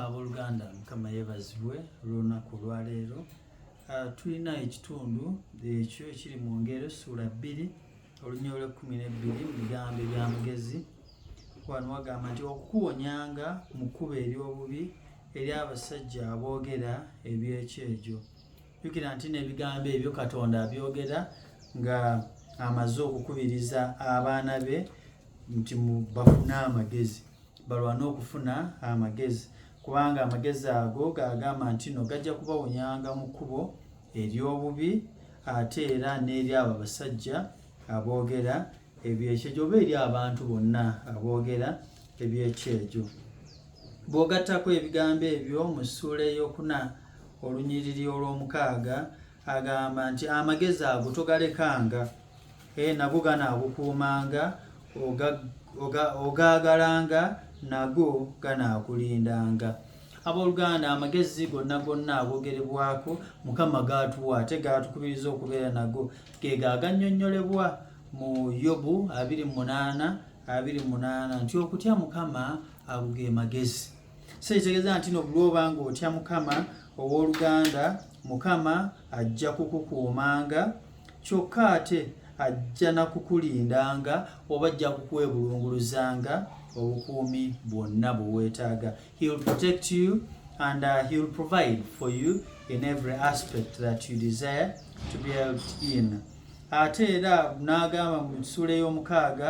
abooluganda mukama yeebazibwe olw'olunaku olwaleero ah, tulina ekitundu ekyo ekiri mu ngero essuula bbiri olunya olwekkumi n'ebbiri mu bigambo ebyamagezi wano wagamba nti okukuwonyanga mu kkubo ery'obubi eri abasajja aboogera eby'ekyejo jukira nti n'ebigambo ebyo katonda abyogera nga amaze okukubiriza abaana be nti bafune amagezi balwane okufuna amagezi kubanga amagezi ago gagamba nti no gajja kubawonyanga mu kkubo ery'obubi ate era n'eri abo abasajja aboogera ebyekyejo oba eri abantu bonna aboogera ebyekyejo bw'ogattako ebigambo ebyo mu ssuula eyokuna olunyiriri olw'omukaaga agamba nti amagezi ago togalekanga eh, nago ganaakukuumanga ogaagalanga nago ganaakulindanga abooluganda amagezi gonna gonna agogerebwako mukama gaatuwa ate gaatukubiriza okubeera nago ge gaagannyonnyolebwa mu yobu 28 28 nti okutya mukama ago ge magezi so ekitegeeza nti no bulwoba nga otya mukama ow'oluganda mukama ajja kukukuumanga kyokka ate ajja nakukulindanga oba ajja kukwebulunguluzanga obukuumi bwonna bweweetaaga he'll protect you and uh, he'll provide for you in every aspect that you desire to be helped in ate era n'agamba mu nsuula ey'omukaaga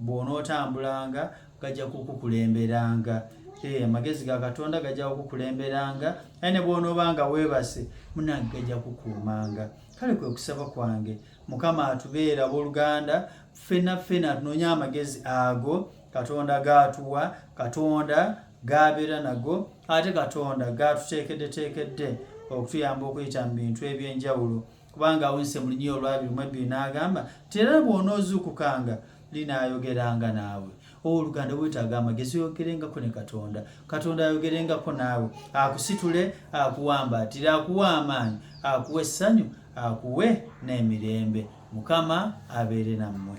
bw'onootambulanga gajja kukukulemberanga eh, amagezi ga katonda gajja kukukulemberanga aye ne bw'onoobanga weebase munange gajja kukuumanga kale kwe kusaba kwange mukama atubeera abooluganda ffena ffena tunonye amagezi ago katonda gaatuwa katonda gaabeera nago ate katonda gaatuteekeddeteekedde okutuyamba okuyita mu bintu eby'enjawulo kubanga awunise mu lunyia olwabiri mwebbiri n'agamba nti era bw'onoozuukukanga linaayogeranga naawe owoluganda bwetaaga amagezi oyogerengako ne katonda katonda ayogerengako naawe akusitule akuwambaatire akuwe amaanyi akuwe essanyu akuwe n'emirembe mukama abeere nammwe